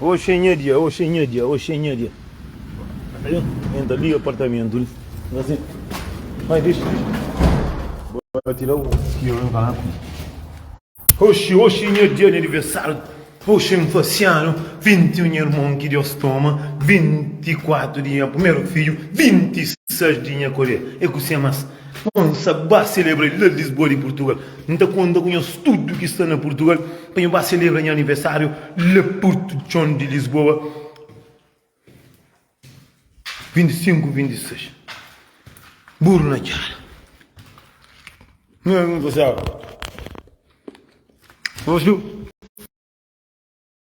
Oxê nha dia, oxê nha dia, oxê nha dia N ta liga apartamentu li N ta sen Mai dexi li Bo ta tira u ki omi pa na kume Oxi, oxi nha dia di aniversariu Oxi N fasi anu vinti un nha irmon ki Dios toma vinti kuatu di nha primeru fidju vinti i seis di nha kolher e kusé mas. N sa ba selebra el la Lisboa di Purtugal. N ta konta ku nhos tudu ki sta na Purtugal pa nho ba selebra nha aniversáriu la Porto Txon di Lisboa, 25, 26. Buru na txada. Nhos viu?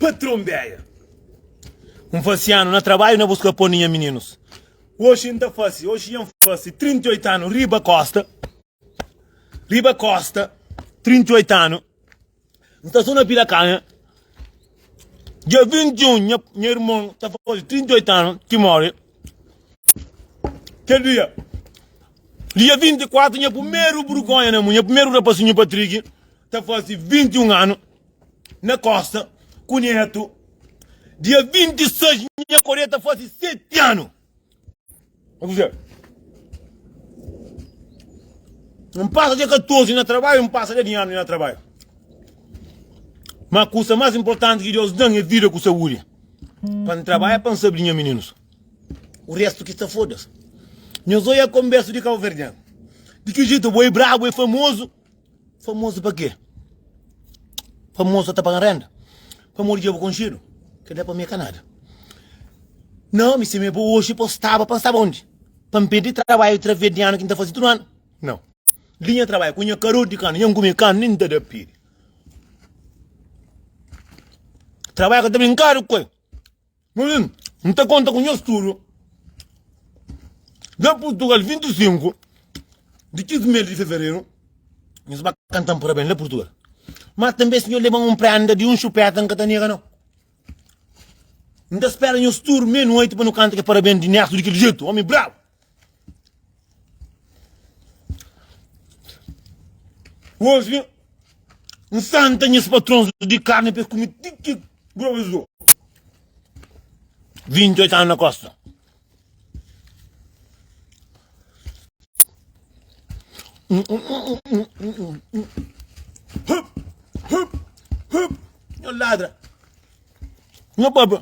Patron Béia N fase anu na trabadju na buska pon di nha mininus Oxi N ta fase, oxi nha N fase 38 anu riba kosta Riba kosta 38 anu N sta so na pila kanha Dia 21 nha nha irmon ta fase 38 anu ki more Kel dia Dia 24 nha primeru burgonha na mu Nha primeru rapasinhu Patrick ta fase 21 anu na kosta ku netu. Dia 26 nha koria ta fasi 7 anu. Akusel. N pasa dia 14 na trabalho, n pasa dia 10 anu na trabalho. Mas kusa mais importante ki Deus dan é vida ku saúde. Pa n trabalha pa n sabe di nha meninos. O resto ki sta foda-se. Nhos oia konbersu di kabuverdiano. Di ki jeito bo é brabo, é famoso. Famozu pa kê? Famozu sa ta paga-m rénda? Pamodi dja bu konxedu? Kel la pa mi é ka nada. Nau, mi simé bo oji pa staba pa N staba undi? Pa N perde trabadju través di anu ki N ta faze tudu anu? Nau. Li nha trabadju ku nha karor di kanu, nha N kume kanu, nen N ta da pede. Trabadju ka ta brinkadu ku el. N ta konta ku nhos tudu. Dja Purtugal 25 di kes mês di fevereru, nhos ba kanta-m parabens la Purtugal. Má tanbê si nhos leba-m un prénda di un xupéta, N ka ta nega nau. N ta spera nhos tudu mei-nueti pa nu kanta kel parabens di Nérsu di kel jetu, ómi brabu! Oji, N santa nhas patrons di karni pa es kume ti ki groba es dor. 28 anu na kosta. Hup, hup, hup, nho ladra. Nho baba.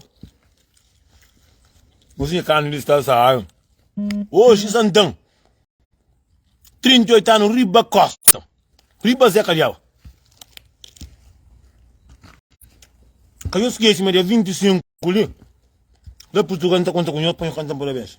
Musika kanu di sta saaru. Oji santan. 38 anu riba kosta. Riba zé kadiau. Ka yo skesi ma dia 25 li. Da Portugal nta konta ku nho pa nho kanta parabens.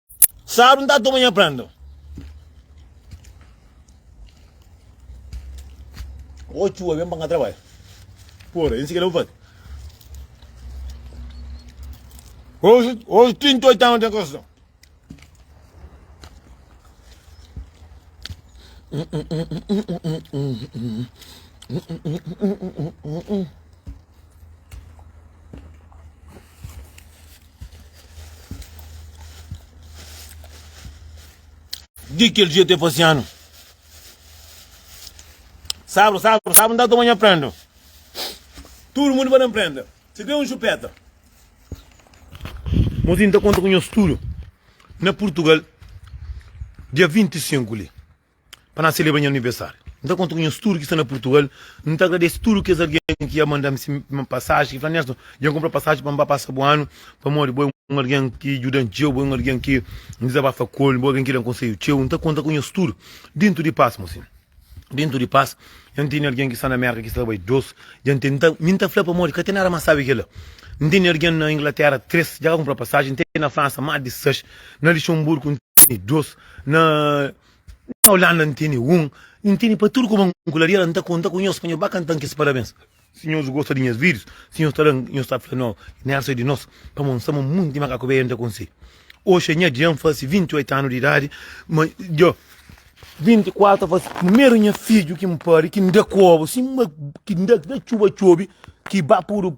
Saru nta toma nha prenda. Ô txua, ben pa ka trabadja. Pora, insi keda bu faze. Hoje, hoje 38 anos tem construção. Di kel dia te fase anu. Sabru, sabru, sabru, nta toma nha prenda. Tudo mundo para empreender. Se tem um chupeta. Mozinho está conta com o estudo. Na Portugal, dia 25 ali. pa na celebra nha anivesariu. N ta konta ku nhos tudu ki sta na Purtugal. N ta agradese tudu kes algen ki ya manda-m se pasaji, ki fla, Nerson, dja N kunpra pasaji pa N ba pasa bu anu, pamodi bo é un algen ki djuda-m txeu, bo é un algen ki N dizabafa ku el, bo é un algen ki da-m konsedju txeu. N ta konta ku nhos tudu déntu di pas, mon senhu. Déntu di pas, nha N tene algen ki sta na Mérka ki sta ta bai dôs, dja N tene, mi N ta fla pamodi ka ten nada más sábi kel-la. N tene algen na Inglatéra, três, dja ka kunpra pasaji, N tene na Fransa más di sais, na Lixonburgu N tene dôs, Na Holanda N tene un N tene pa tudu kuma N kularia la N ta konta ku nhos pa nhos ba kanta-m kes parabens Si nhos gosta di nhas vídius Si nhos ta da-m Nhos ta fla nau Nel sai di nos Pamó N sama munti di makaku beian ta konse Oxi é nha dia N fase 28 anu di idadi Ma djo 24 ta fase Primeru nha fidju ki N padi Ki N da kobu Simba ki N da txuba txobi Ki ba pudu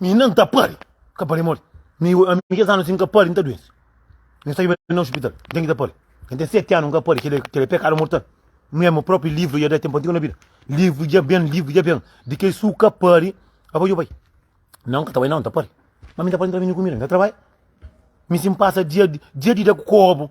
Mi nan ta pari, ka pari mori. Mi, ami kes anu si nka pari, nta duensi. N saiba na hospital, n ten ki ta pari. N ten seti anu, nka pari, kila kila é pekadu mortal. Mi ami propi livru ja da tenpu antigu na bida. Livru ja ben, livru ja ben. Di ke su ka pari, a bai, djo bai. Nan, nka ta bai nan, nta pari. Ma mi nta pari, nta mi mi kumida, nta trabaia. Mi si npasa dia dia di da ku kobu.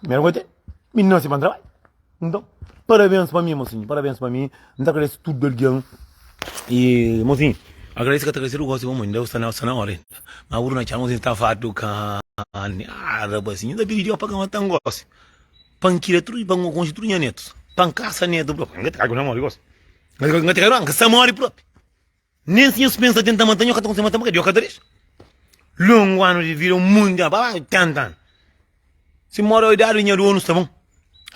Primeru gosi é mi nase pa N trabadja. Nton, parabéns pa mi, mosinhu, parabéns pa mi. N ta agradese tudu algen. I mosinhu, agradese ka ta agradese, gosi bo mô, inda sta na óra inda. Má bu duna txau, mosinhu, sta fartu karni. Aa rapazinhu, N ta pidi Jeová pa ka mata-m gósi, pa N kria tudu, pa N konxe tudu nha nétus, pa N kasa nétu própi. N ka ta kai ku N ta móre gósi. N ka ta kai ku N ta móre própi. Nen si nhos pensa tenta mata-m, nhos ka ta konsigi mata-m, purkê Deus ka ta dexa. Longu anu di vida, munti anu, pa tenta anu. Si n móre idadi di nha dónus ta bon,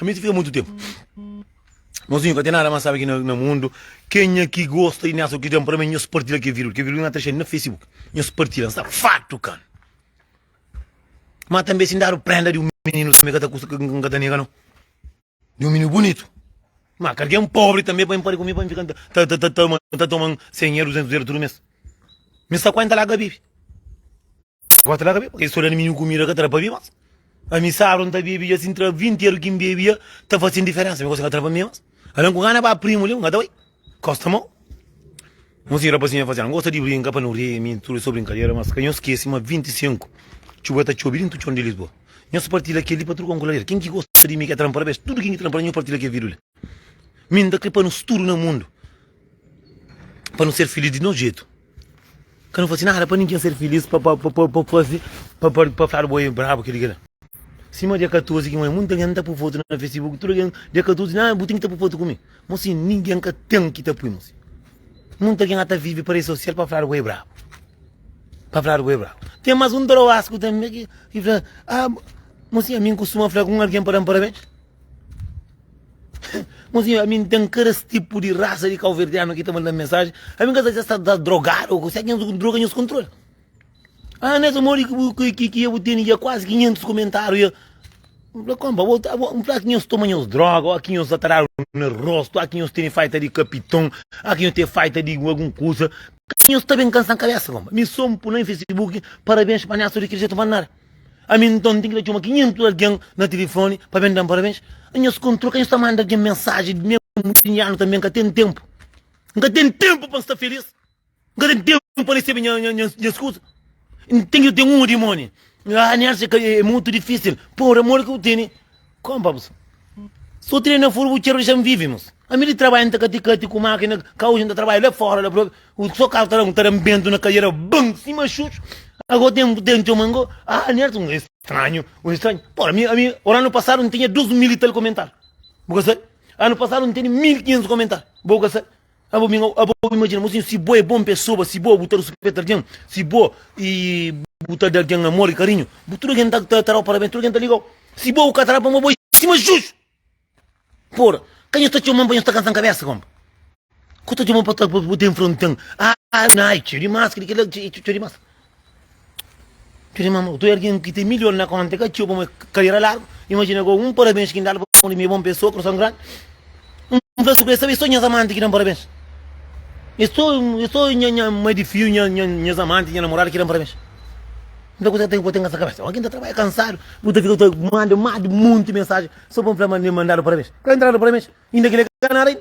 ami ta fika mutu ténpu. Mozinhu, ka ten nada más sábi ki na mundu. Kenha ki gosta di néssi o ki ten prome, nhos partila kel vídeo. Kel vídeo na ta xe na Facebook. Nhos partila, N sta fartu ka-l. Má tanbe si N dadu prénda di un mininu, tanbe ka ta kusta, N ka ta nega nau. Di un mininu bunitu. Má ka algen póbri tanbê pa N pode kume pa N fika N ta toma sen ela, duzentus ela tudu mês. Mi sta kuenta la ka bebe. Kuenta la ka bebe. Kel stória di mininu kumida ka ta da pa bebe más. Ami sábadu N ta bebe dja sin tra vinti ela ki N bebe dja ta fase-m diferénsa. Mi gosi ka ta da pa mi más. Algen ku gana ba primu li, N ka ta bai. Kosta mô. Un si rapazinhu ta fazê-l, N gosta di brinka pa nu ri, minti tudu es sô brinkadera, mas ka nhos skese ma 25 txuba ta txobe dintu txon di Lisboa. Nhos partilha kel-li pa tudu kantu ku ladera. Ken ki gosta di mi ka tranpa-l bes. Tudu ken ki tranpa-l, nhos partilha kel vidu li. Mi N ta krê pa nos tudu na mundu, pa nu ser filís di nos jetu. Ka nu faze nada pa ningen ser filís Pa faze, pa faze, pa fladu bo é brabu kel-li kel-la Sima dia 14 ki moi munta algen ta pui fotu na facebook Tudu algen dia 14 di nada bu ten ki ta pui fotu ku mi Mo si ningen ka ten ki ta pui mo si Munta algen a ta vive pa redi sosial pa fladu bo é brabu Pa fladu bo é brabu Ten más un troasku tanbe ki fla Mo si ami N kustuma fla ku un algen pa da-m parabens. Mon senhor ami n'ten karas tipo di raça di cauverdiano ki ta mandam mensagem ami ka sa si es ta drogado ou será ki nhos droga nhos controle ah nessa modi ki bu ki ki bu teni dja quase 500 comentario dja um fla compa bo ta bo um fla ki nhos toma nhos droga ou ki nhos ta tarado na rosto ou ki nhos teni faita di capitão ou ki nhos teni faita di algum coisa nhos ta bem cansa cabeça compa mi só um pula em facebook parabéns pa nhas tudo ki dja ta mandar Ami nton ten ki ta txoma 500 algen na tilifoni pa ben da-m parabens? Nhos kontrol ka nhos ta manda algen mensaji di mésmu di nha anu tanbê? N ka ten ténpu, N ka ten ténpu pa N sta filís, N ka ten ténpu pa N resebe nhas kuza. N ten ki ta ten un odimóni. Aa, N atxa ka é mutu difísil. Pabia amor ki bu tene. Kom pa bu sta? So trena na furu bu txer dexa-m vive mos. Ami li trabadja nta kati-kati ku makina, ka oji nta trabadja la fora la propi. U so kal ta ta da-m bentu na kadera ban sima xuxu. Ago ten bu ten txoma ngo. Ah Nerton un estranhu, un estranhu. Por ami ami ora anu pasadu ntinha dus mil i tal komentar. Bu ka sabe? Anu pasadu ntene mil kinhentus komentar. Bo ka sabe? Abo bin abo abo imagina mo sin si bo é bom pesoba si bo bu ta ruspeta algen si bo e bu ta da algen amor e karinhu bu tudo algen ta ta tarau parabens tudo algen ta ligau si bo bu ka tara pamo bo é sima juju pora ka nhos ta txoman pa nhos ta kansan kabesa kompa ku ta txoman pa ta pa bu ta enfrenta'n aa na ai txeu dimas kilikilia txeu txeu dimas. Txeu di mama, tu ergen ki ten milhon na konta, ka txeu pa mo karera largu. Imajina go un parabens ki N dadu pa mo di mi e bon pesoa, kurason grandi. N fla su ku es, sabe, es so nhas amanti ki da-m parabens. Es so, es so nha, nha mai di fiu, nha, nha, nhas amanti, nha namoradu ki da-m parabens. Nta kuza ki ta fika bo ten na sa kabesa? Oki N ta trabadja kansadu, bu ta fika bu ta manda más di monti mensajen so pa N fla ma N manda-l parabens? Ka N tra-l parabens, inda ki el é ka nada ainda.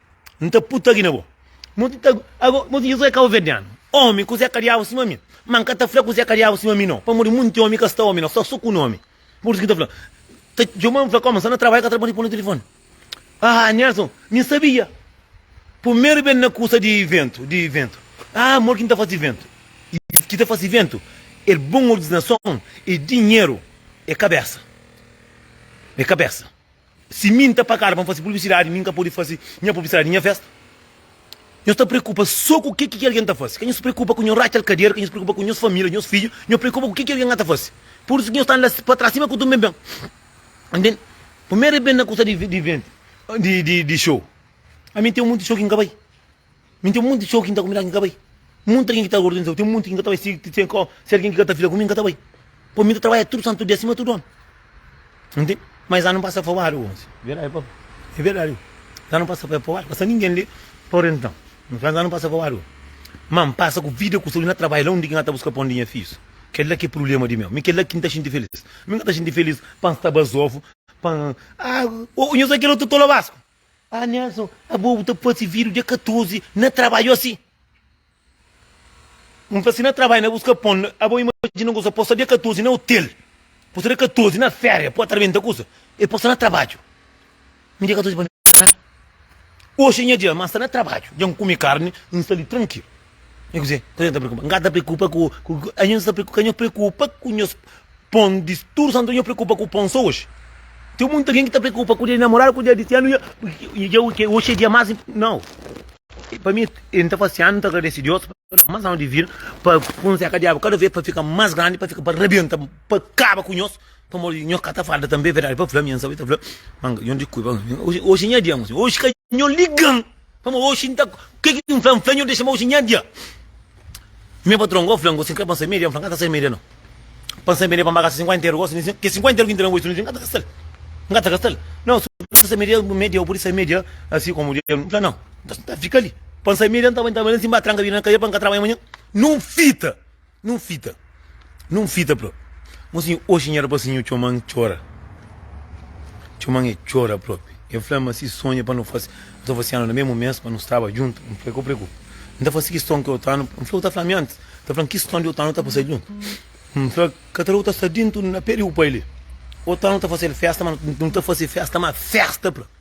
N ta puta ki na bo. Ago, bo ta di, José Cabo-Verdiano, omi ku Zé Kadiabu sima mi. Ma N ka ta fla ku Zé Kadiabu sima mi no, pamodi munti omi ka sta omi no, sta so ku nomi. Pur isu ki N ta fla. Ta txoma-m fla, Koma, sta na trabadja, ka ta respondi p'un tilifoni. Ah, Nelson, mi sabia. Purmeru ben na kusa di ventu, di ventu. Ah, amor ki N ta fasi ventu. I ki ta fasi ventu e bon ordinason, e dinheru, e kabesa. E kabesa. Si mi nta pagadu pa nfasi publisidadi, mi nka podi fasi nha publisidadi di nha festa? Nhos ta preokupa so ku ke ki algen ta fasi. Ka nhos preokupa ku nhos ratxal kadera, ka nhos preokupa ku nhos famila, nhos fidju, nhos preokupa ku ke ki algen nga ta fasi. Pur isu ki nhos sta la pa tras, sima ku tudu ben-ben. Ntende? Pamera i ben na kusa di, di venti, di, di, di show. Ami nten munti show ki nka bai. Mi n ten monti txeu ki n ta konbinadu ki n ka bai. Monti algen ki ta organizau. Ten monti ki n ka ta bai. Si algen ki ka ta fla ku mi, n ka ta bai. Pabia mi ta trabadja tudu santu dia sima tudu omi. Nu ntende? Ma es anu pasa é pabadu gósi. Verdadi, papa? É verdadi. Es anu pasa é pabadu. Pasa ningen li pa orienta-m. N fla-m es anu pasa é pabadu gósi. Ma n pasa ku vida, ku saúdi na trabadja la undi ki N ka ta buska pon di nha fidjus. Kel-la ki é prubléma di meu. Mi kel-la ki N ta xinti filís. Mi ka ta xinti filís pa N sta Bazofu, pa N. Aa! Ô, nhos bai kel otu tola Basku? Ah Nelson, abo bu ta fasi vídiu dia 14 na trabadju asi? N fla si na trabadju na buska pon, abo imajina un kusa, posta dia 14 na otel, posta dia 14 na féria, pô ta rebenta kusa, el posta na trabadju. Mi dia 14 pa mi sta na, oxi é nha dia, má N sta na trabadju, dja N kume karni, N sta li trankilu. Nha kuzê, kuzê ki N ta preokupa? N ka ta preokupa ku ku ku. Anha N sta preokupa, ka nho preokupa ku nhos pon di tudu santu dia, nho preokupa ku pon so oxi. Ten monti algen ki ta preokupa ku dia di namoradu, ku dia di anu, dia di dia ke oxi é dia más inpo. Nau! Pa mi, e N ta fase anu, N ta agradese Deus pa N ta da más anu di vida, pa kunse ka Diabu kada vez pa fika más grandi, pa fika pa rabenta, pa kaba ku nhos, pamodi di nhos ka ta farda tanbe. É verdadi, pa fla-m, N sta ta fla-m, manga, Djon di Kuiba, oxi, oxi nha dia, mô senhor, oxi ka nho liga-m. Pamo oxi nta ke ki N fla-m fla-nho dexa-m oxi nha dia Nha patron go fla-m gosi N kre pansa media N fla-m N ka ta sai media no Pansa media pa N ba gasta 50 euro gosi N di-si Ke 50 euro ki N tra-m oxi no N ka ta gasta-l N ka ta gasta-l No si bu ta sai media media bu pudi sai media asi komu dia N fla no Nta fika li Pa N sai media N ta bai N ta bai la si N ba tranka vida na kadia pa N ka trabadja manha Nun fita. Nun fita, nun fita pró. Mo si oxi nha rapasinhu txoman txora. Txoman e txora propi. E fla ma si sonha pa nu fase, nu ta fase anu na mesmu mes pa nu staba djuntu. N fla, Ka preokupa. N ta fase kiston ki otanu. N fla, U ta fla mi antis. N ta fla-m kiston di otanu ta pasa djuntu. N fla, Ka tra u ta sta dintu na pe di u pai li. Otanu ta fase-l festa ma nu ta fase festa ma festa pró.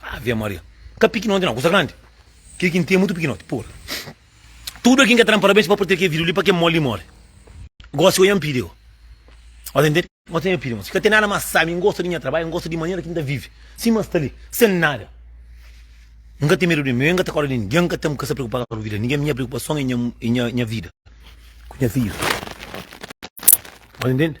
Ave Maria. Ka pikinoti nau, kusa grandi. Kel ki N ten é mutu pikinoti. Pura. Tudu algen ki ka ta da-m parabens pa partilha kel vídiu li, pa kel mó li móre. Gósi ô nha pidi ô. Ota intende? Ota nha pidi, mosi. Ka ten nada más sábi. N gosta di nha trabadju. N gosta di manera ki N ta vive. Sima N sta li, sen nada. N ka ten medu di ninguén. N ka ta kóre di ninguén. N ka ten, N ka sta preokupadu ku vida di ninguén. Nha preokupason é nha vida ku nha fidju. Ota intende?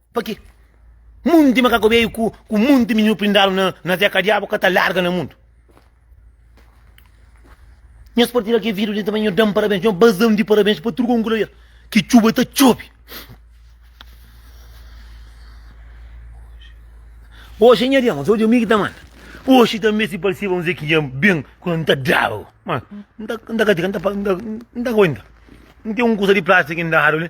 Pa ki munti makaku beiu ku ku munti mininu prindadu na na teka diabu ka ta larga na mundu. Nhos partida ki vidu di também nho dam parabéns, nho bazam di parabéns pa turgon kula yer ki txuba ta txobi. Oxi nha dia, mas oxi mi ki ta manda. Oxi também si parsiba un zekiya ben kula nta daba. Ma nta nta katika nta nta nta kointa. Nte un kusa di plástiku ki ndadu li.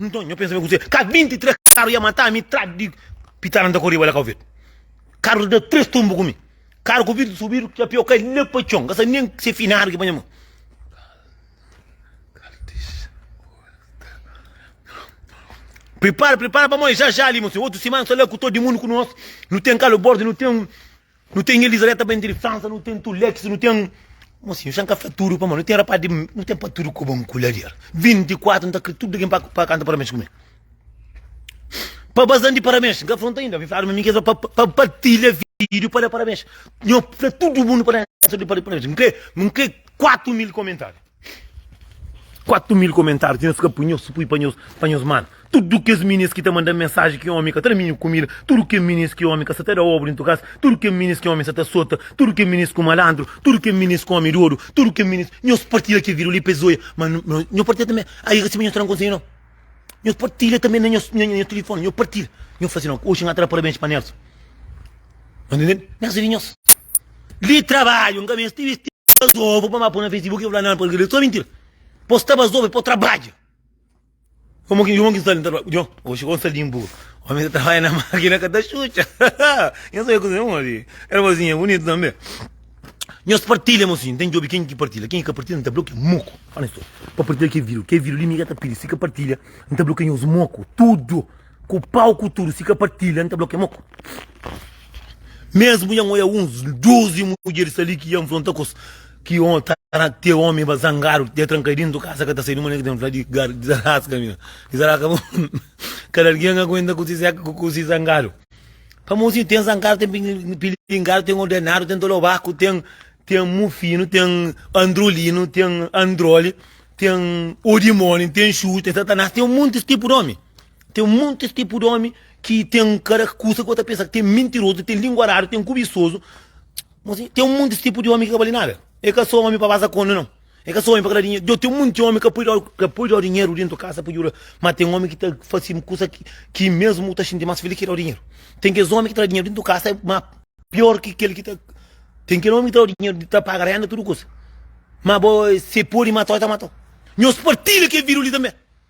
Nton, nho pensa ben kuzê ka 23 karu ia mata mi tra di pitara nta koriba la ka ovidu karu da tres tumbu ku mi karu ku vidru subidu ki apiau kai la pa txon ka sa nen se finadu ki panha mon pripara pripara pamodi ja ja li mon senhor otu simana sta la ku to di mundu ku nos nu ten kalu bordi nu ten Nu ten Elizabeta bende di Fransa, nu ten Tulexi, nu ten. Mosinhu, xan ka fla tudu pamodi nu ten rapaz di. Nu ten pa tudu koba un kulader. 24 nu ta kre tudu ken pa pa kanta parabens ku mi. Pa bazan di parabens, n ka fronta inda, mi fladu ma mi kre pa pa partilha video pa da parabens. Nho fla tudu mundu pa da parabens. N kre, n kre 4 mil komentariu. 4 mil komentáriu ti na fika pui nhos pui pa nhos pa nhos manu tudu kes minis ki ta manda mensaji ki omi ka ta da minhu kumida tudu ke minis ki omi ka sa ta da obu dentu kas tudu ke minis ki omi sa ta sota tudu ke minis ku malandru tudu ke minis ku omi dodu tudu ke minis nhos partilha ke video li pa es oia ma nhos partilha tanbe ai i ka sibi nhos ta da konselhu no nhos partilha tanbe na nhos na nhos tilifoni nhos partilha nhos fasi no oxi nhata da parabens pa Nelson Nelson di nhos. Li trabadju nka meste di vesti bazovu pa ma po na facebook i fla nan pa li so mintira po sta bazovu i po trabadja yo mon ki sta li nta trabadja djon oxi kon sta linpu omi ta trabadja na makina ka ta xutxa nho sabe kuze mon si el mosinha e bunitu tanbe nhos partilha mosinha nten djobe ken ki partilha ken ki ka partilha nta blokia muku fala nhos tudu pa partilha kel video kel video li mi ka ta pidi si ka partilha nta blokia nhos muku tudu. Ku pau ku tudu si ka partilha N ta blokia moku Mesmu nha N oia uns dozi mudjeris ali ki ia nfronta kos ki N ta na tê Omi ba zangadu ki ta tranka dintu di kasa ka ta sai Di manera ki ta fla di gar Dizaraska mi na Dizaraska bu Kada algen ka aguenta ku si zeka ku ku si zangadu Pamodi si ten zangadu ten pili pilingadu ten ordenadu ten tolobaku ten ten mufinu ten androlinu ten androli ten odimoni ten xuxu ten satanas ten un montis tipu di omi. Ten muntis tipu di omi ki ten kara kusa ki bo ta pensa ki ten mintirozu, ten lingua radu, ten kubisozu. Mosi, ten muntis tipu di omi ki ka bali nada. E ka so omi pa basa kondi non. E ka so omi pa kada dinheru. Djo, ten munti omi ka poi djo, ka poi djo dinheru dentu kasa pa djuda. Ma ten omi ki ta fasi kusa ki, ki mesmu ta xinti mas filis ki djo dinheru. Ten kes omi ki tra dinheru dentu kasa ma pior ki kel ki ta. Ten kel omi ki ta djo dinheru di ta paga renda tudu kusa. Ma bo, se podi mata-u, e ta mata-u. Nhos partilha kel vidu li tanbe.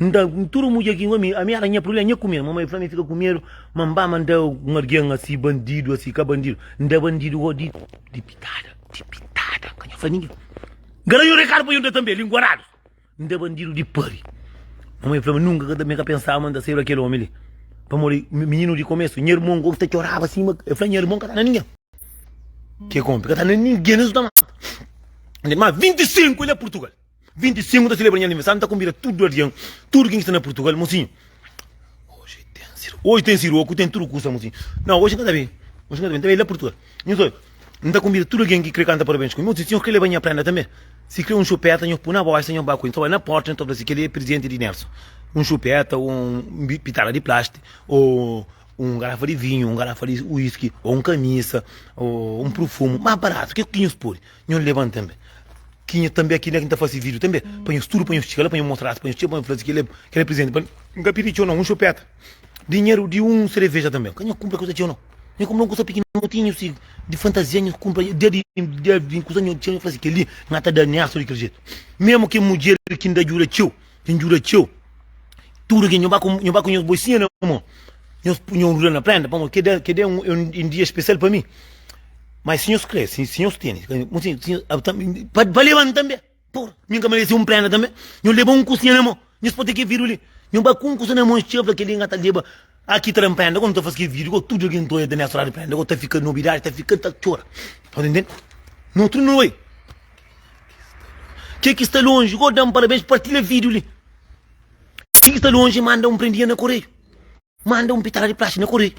N ta N tudu mudjer ki ami ami éra nha prulé nha kume-l. Mamai fla-m i fika ku medu ma N ba ma N da un algen asi bandidu asi ka bandidu N da bandidu ô di di pitada di pitada ka nha fla ningen N ka da un rekadu pa yo N da tanbe linguaradu N da bandidu di pari Mamai fla-m nunka ka ta mi ka pensaba ma N ta saiba kel omi li pamodi mininu di komesu nha irmon gosi ta txoraba sima el fla nha irmon ka ta na ningen ke konpe ka ta na ningen es ta manta ma 25 el na Purtugal. 25 ta celebra nha aniversário nta konbida tudu algen tudu ken ki sta na purtugal mosinho oji ten siro oji ten siro oku ten tudu kusa mosinho nau oji nka ta bai oji nka ta bai nta bai la purtugal nhu ta bai nta konbida tudu algen ki kre kanta parabens ku mi mosinho si nho kre leba nha prenda tanbe si kre un xupeta nho pui na boxa nho ba ku el nhu ta bai na porta nhu ta fla si keli é presenti di nelson un xupeta o un pitala di plastic o un garafa di vinhu un garafa di whisky o un kamisa o un prufumu mas baratu ke ku ki nhos podi. Nho leban tanbe ki nho tanbe ki nho ta fase video tanbe pa nho studu pa nho stika la pa nho mostra pa nho txeu pa nho fala si kele kele presente pa nho ka pidi txeu não um chupeta dinheru di um cereveja tanbe ka nho kumpra kusa txeu não nho kumpra um kusa pikinoti si di fantasia nho kumpra dia di dia di kusa nho txeu nho fala si keli nha ta da nesto di kele jeito mesmo ki mudjer ki nda djuda txeu Nhu djuda txeu. Tudu ki nhu ba ku nhu ba ku nhos boisinha na mô, nhos punha un ruda na prénda, pamodi kel dia kel dia é un é un dia spesial pa mi. Mas si nhos krê, si si nhos tene, pa pa leba-m tanbe. Pô, mi N ka merese un prénda tanbe? Nhu leba un kusinha na mô, nhos pode kel vidru li. Nhu ba ku un kusa na mô, nhu txeba, fla, kel li N ka ta leba. Aki ta da nprende kua nu ta fase kel video kua tudu algen ta oia ta mestra di prende kua ta fika nobidadi ta fika ta txora sta ta ntende na utru nu bai ke ki sta lonji kua da-m parabens partilha video li ke ki sta lonji manda un prendia na koreiu manda un pitara di plastiku na koreiu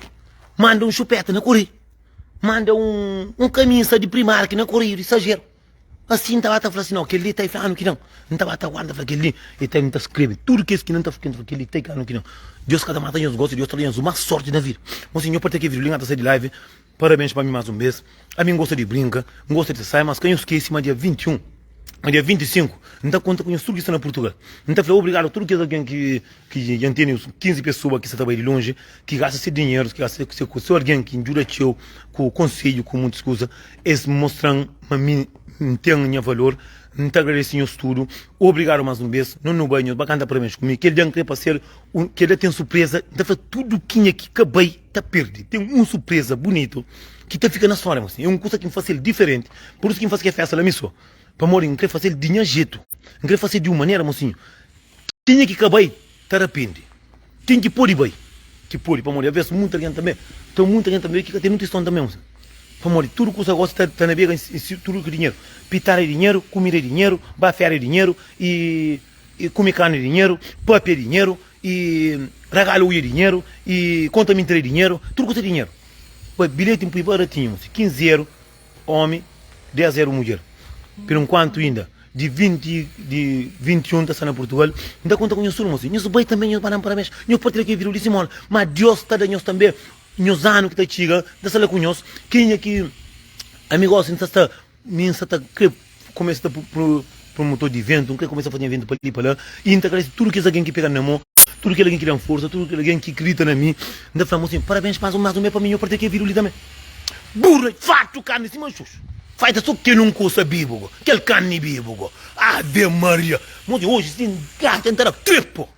manda un xupeta na koreiu manda un un kamisa di primarki na koreiu di sajeru. Asin, N ta ba ta fla si nau, kel-li ta i fla anu ki ben. N ta ba ta guarda fla kel-li i ta i. N ta skrebe tudu kes ki nu ta frekenta fla kel-li i ta i ka anu ki ben. Deus ka ta mata nhos gosi, Deus ta da nhos más sórti na vida. Bon, si nho partia kel vídiu li, N ta sai di live. Parabéns pa mi más un bês. Ami N gosta di brinka, N gosta di sai, mas ka nho skese ma dia 21, ma dia 25, N ta konta ku nhos tudu ki sta na Purtugal. N ta fla obrigadu a tudu kes algen ki. ki dja N tene 15 pesoa ki sa ta bai di lonji, ki gasta se dinheru, ki gasta se kusa, se algen ki N djuda txeu ku konsedju, ku muntus kusa, es mostra-m ma mi N ten nha valor, N ta agradese nhos tudu, obrigadu más un bes, nhos nu bai, nhos ba kanta parabens ku mi, kel dia N krê pa ser un, kel dia ten surpreza, N ta fla tudu kenha ki ka bai ta perde, ten un surpreza bunitu ki ta fika na stória mos, é un kusa ki N fase-l diferenti, pur isu ki N fase kel festa la mi sô, pamodi N krê fase-l di nha jetu, N krê fase-l di un manera mosinhu. Tinha ki ka bai ta rapende. Ten ki podi bai ki podi pamodi aves munti algen tanbe ta munti algen tanbe ki ka ten un tiston tanbe un pamodi tudu kusa gosi ta ta nabega insi tudu ki dinheru pitara e dinheru kumida e dinheru ba fera e dinheru e e kume kanu e dinheru pape e dinheru e ragalu ui e dinheru e konta mintira e dinheru tudu kusa dinheru bai bilheti npui ba ra tinha un si kinzeru Omi, dés éru mudjer. Pero nkuantu inda di vinti di vinti i un ta sta na Purtugal, N ta konta ku nhos tudu mos. Nhos bai tanbe, nhos ba da-m parabéns, nhos partilha kel vidru di simóla. Má Diós ta da nhos tanbe nhos anu ki ta txiga. N ta sta la ku nhos. Kenha ki ami gósi, N sta sta, mi N sta ta krê. Kumesa ta promotor di ventu, N krê kumesa fazinha ventu pa li pa la i N ta agradese tudu kes algen ki pega-m na mon, tudu kel algen ki da-m forsa, tudu kel algen ki kridita na mi. N ta fla-m asin, Parabens, mas un be pa mi, nho partia kel vidru li tanbe. Burra, fartu karni sima xus. Fai ta so kel un kusa bibu go, kel karni bibu go. Ave Maria! Modi oji si N gata N ta da trêpa.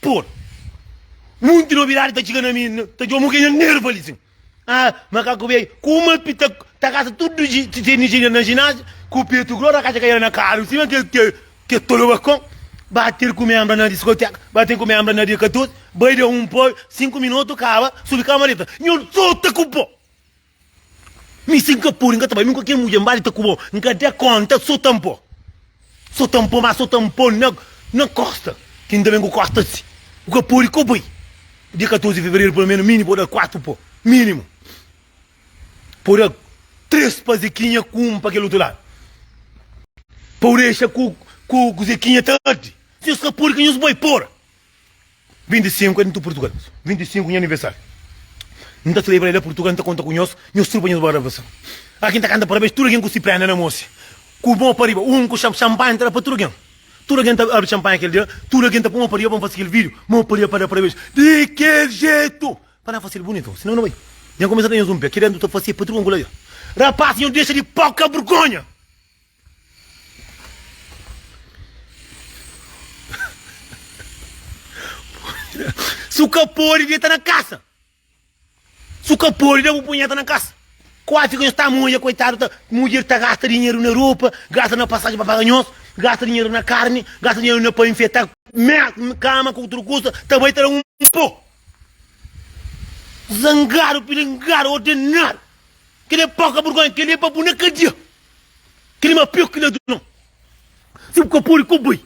Por. Munti nobidadi ta txiga na mi, n ta djomu kenha nerva li sin. Ah, makaku beiu, kuma pi ta ta kasa tudu ji ti teni ji na jináziu ku petu gross na kaxa kaiera na karu sima ke ke ke tolo bakon. Bater ku menbra na diskoteka, bater ku menbra na dia 14, bai da un poi, sinku minotu kaba, subi kamareta, nhon sota ku po. Mi si nka podi nka ta bai nunka ken mudjer nbali ta ku bo nka da konta so ta npo so ta npo ma so ta npo na na kosta ki nta ben ku kosta si bu ka podi ko bai dia 14 di fevereru pelo menos mi ni bo da 4 po minimu po da 3 pa zekinha ku 1 pa kel otu ladu pau dexa ku ku zekinha ta ardi si nhos ka podi ka nhos bai pora. 25 é di tudu Portugal 25 nha aniversáriu N ta celebra-l la Portugal N ta konta ku nhos Nhos trupa nhos bo ravason Aki N ta kanta parabéns Tudu algen ku si prénda na mos Ku mô pa riba Un ku xan xanpanha N ta da pa tudu algen Tudu algen ta abri xanpanha kel dia Tudu algen ta pô mô pa riba pa N fase kel vídiu Mô pa riba pa da parabéns Di kel jetu Pa na fase-l bunitu Sinou N bai Nha kumesa da nhos un pé Ki da N ta fase Padru Angula dja Rapás nhos dexa di pau Ka burgonha. Si u ka pode deta na kasa Si u ka pode da bu punheta na kasa Kuafi ka nhos ta ama odja koitadu ta Mudjer ta gasta dinheru na ropa Gasta na pasajen pa paga nhos Gasta dinheru na karni Gasta dinheru na pa infeta Merda kama ku utru kusa Ta bai ta da un po Zangadu pilingadu ordenadu Kel-li é poka burgonha Kel-li é pa bu na kadia Klima pior ki na du no. Si bu ka podi ku bai.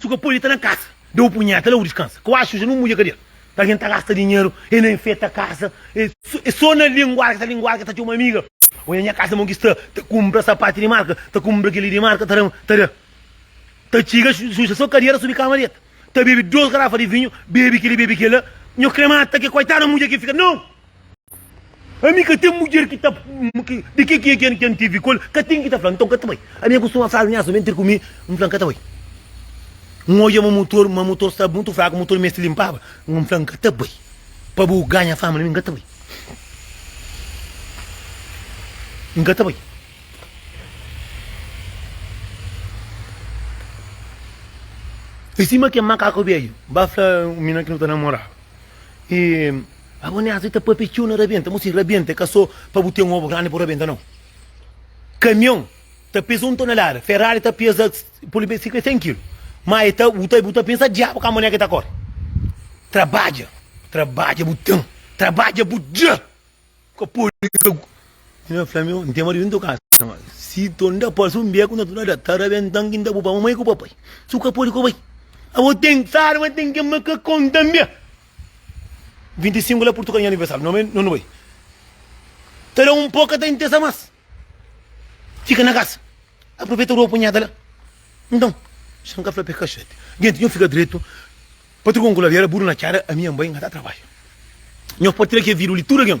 Si bu ka podi ta na kasa. Da bu punheta la bu diskansa. Ka oa suja nu mudja kadera. Ka algen ta gasta dinheru e na enfeta kasa. E so na linguarka ta linguarka ta txoma amiga. Oia nha kasa mon ki sta. Ta kumpra sapati di marka. Ta kumpra keli di marka ta dama ta da. Ta txiga suja so kadera subi kama deta. Ta bebi dos garafa di vinhu bebi keli bebi kela. Nho kre mata ke koitadu mudja ki fika no. Ami ka ten mudjer ki ta di ki ki ki N tivi ku el, ka ten ki ta fla, nton ka ta bai. Ami N kustuma fla almias, ami N ter ku mi, N fla, N ka ta bai. N odja ma mutor ma mutor sta mutu fraku, mutor meste linpaba, N fla, N ka ta bai. Pa bu ganha fama na mi, N ka ta bai. N ka ta bai. I sima kel makaku bedju ba fla un mina ki nu ta namoraba. I. Abo nés li ta papia txeu na rabenta mo si rabenta é ka so pa bu ten obo grandi bu rabenta nau kamion ta peza un tonelada ferrari ta peza pode be sika 100 kilu ma e ta bu ta bu ta pensa diabu ka manera ke ta kore trabadja trabadja bu ten trabadja bu dja ka pode ka mi na fla meu n'ten marido n'ten kasa ma si to nda pase un beku na tonelada ta rabentan ki nda bu pa mamai ku papai su ka pode ku bai abo ten sarma ten ke makakon tanbe 25 la purtu ka nha aniversáriu nome no nu bai ta da un pó ka ta intesa más fika na kasa aproveta ropa unhada la nton xan ka fla pé kaxete genti nho fika dretu pa trgon kula li era buru na txada ami nha nbai nha ta trabadja nho partilha ke vidu li tudu algen